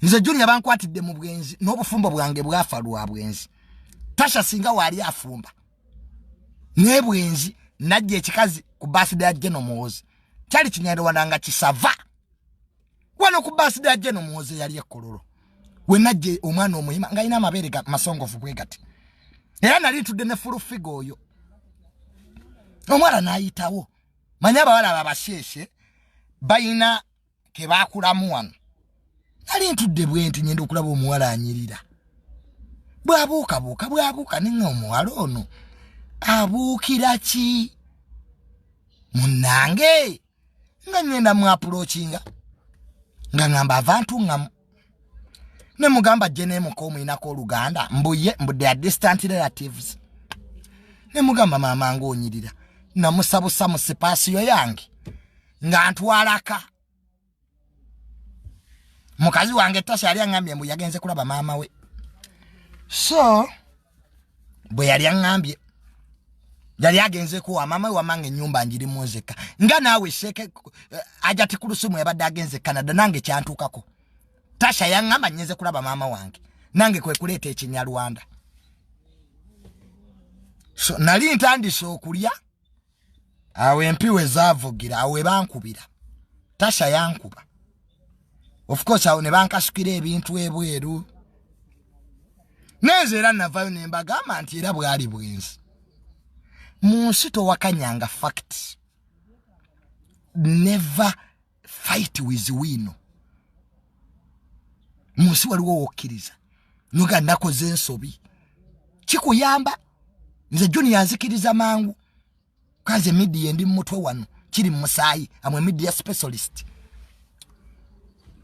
nze junior bankwatidde mu bwenzi n'obufumbo bwange bwafa lwa bwenzi tasha singa waali afumba naye bwenzi najja ekikazi ku basida ya jeno muwozi kyali kinyarwanda nga kisava wano ku basida ya jeno muwozi eyali ekkololo we najja omwana omuyima nga alina amabeere ga masongovu bwe gati era nali ntudde ne fulufiga oyo omwana n'ayitawo manya abawala babasheeshe bayina ke baakulamu wano nali ntudde bwenti ngenda okulaba omuwala anyirira bwabuukabuuka bwabuuka ninga omuwala ono abuukira ki munnange nga ngenda mwapulokinga nga ngamba avantu nga ne mugamba ajje nemuka omuyinako oluganda mbuye mbu they are distant relatives ne mugamba maama nga onyirira namusabusa mu sipaasiyo yange nga ntwalaka mukazi wange tasha yali angambye mbu yagenze kulaba maama we so bwe yali aŋŋambye yali agenzeeko wamama wamanga ennyumba njirimu nzekka nga naawe seeke eh, ajati ku lusumu yabadde agenze e canada nange kyantuukako tasha yaŋŋamba nyenze kulaba maama wange nange kwe kuleeta ekinyarwanda so nali ntandise okulya awo empi we zaavugira awo we bankubira tasha yankuba of course awo ne bankasukira ebintu ebweru nenze era navayo ne mbagamba nti era bwali bwenzi mu nsi towakanyanga fact never fight with win munsi waliwo wokkiriza noga nakoze ensobi kikuyamba nze juni yanzikiriza mangu kanze midiya endi mumutwe wano kiri mumusaayi amwe midiya specialist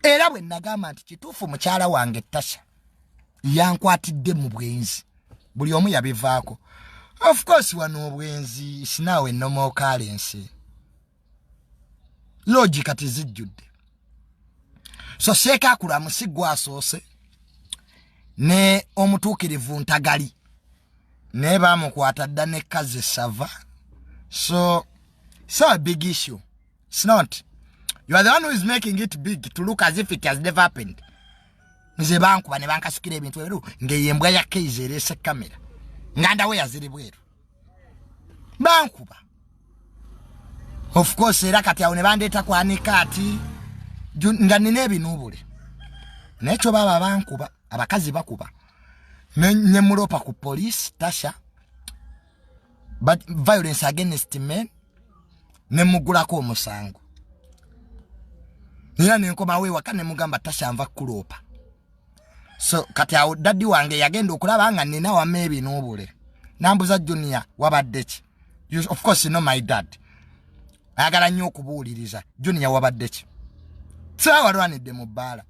era bwe nagamba nti kituufu mukyala wange tasha yankwatidde mu bwenzi buli omu yabivaako of course wano obwenzi sinawe nomokalensi loogi kati zijjudde so seeka akula musiggu asoose ne omutuukirivu ntagali naye baamukwata dda ne kazi sava so so a big issue it's not you are the one who is making it big to look as if it has never happened nze bankuba ne bankasukira ebintu ebiriwo ng'eyo embwa ya keizi ereese kamera ngandawe yaziri bweru bankuba of course era kati awo ne bandeeta kwanika ati nga nina ebinuubule naye kyo baaba bankuba abakazi bakuba ne muloopa ku poliisi tasha but violence against men ne mugulako omusango era nenkomawo ewaka ne mugamba tasha nva kuloopa so kati awo daddy wange yagenda okulaba nga nina wama ebinuubule nambuza junior wabadde ki of course no my dad ayagala nnyo okubuuliriza junior wabadde ki sawalwanidde mu bbaala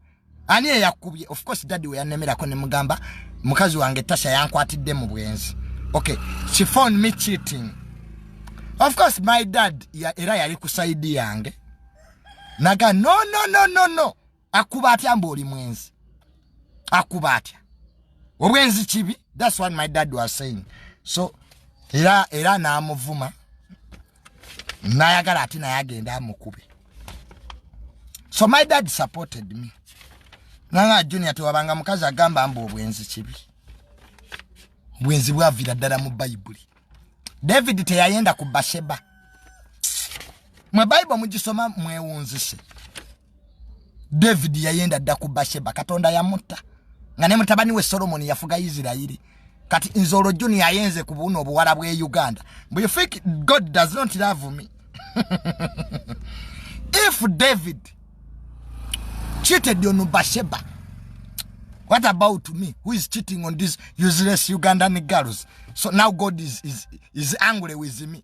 ani eyakubye of course daddy we yanemerako ne mugamba mukazi wange tasha yankwatidde mu bwenzi okay she found me cheating of course my dad ya, era yali ku saidi yange naga no no no no no akuba atya mbu oli mwenzi akuba atya obwenzi kibi thats what my dad was saying so era era naamuvuma nayagala ati naye agenda amukube so my dad supported me nanga junior tewabanga mukazi agamba mbu obwenzi kibi bwenzi bwavira ddala mu bayibuli david teyayenda ku basheba mwe bayibuli mugisoma mwewunzise david yayenda dda ku basheba katonda yamutta nga ne mutabani we solomoni yafuga isirairi kati nze olwo juni ayenze ku buuno obuwala bwe uganda bu you think god does not love me if david cheated on basheba what about me who is cheating on this useless ugandan girls so now god is, is, is angry with me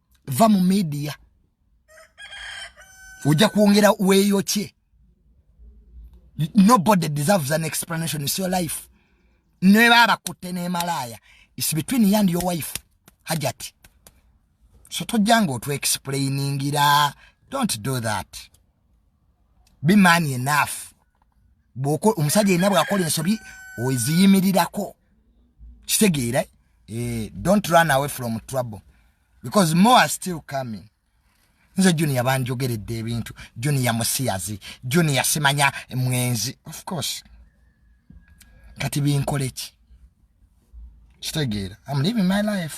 va mu midiya ojja kwongera weeyokye nobody deserves an explanation is your life neba abakutte nemalaaya is between you and your wife hajati so tojjanga otwexplainingira don't do that be man enough bwoko omusajja yenna bwakola ensobi oziyimirirako kitegeera eh, don't run away from trouble because more are still coming nze junior banjogeredde ebintu junior musiyazi junior simanya mwenzi of course kati binkoleki kitegeera am living my life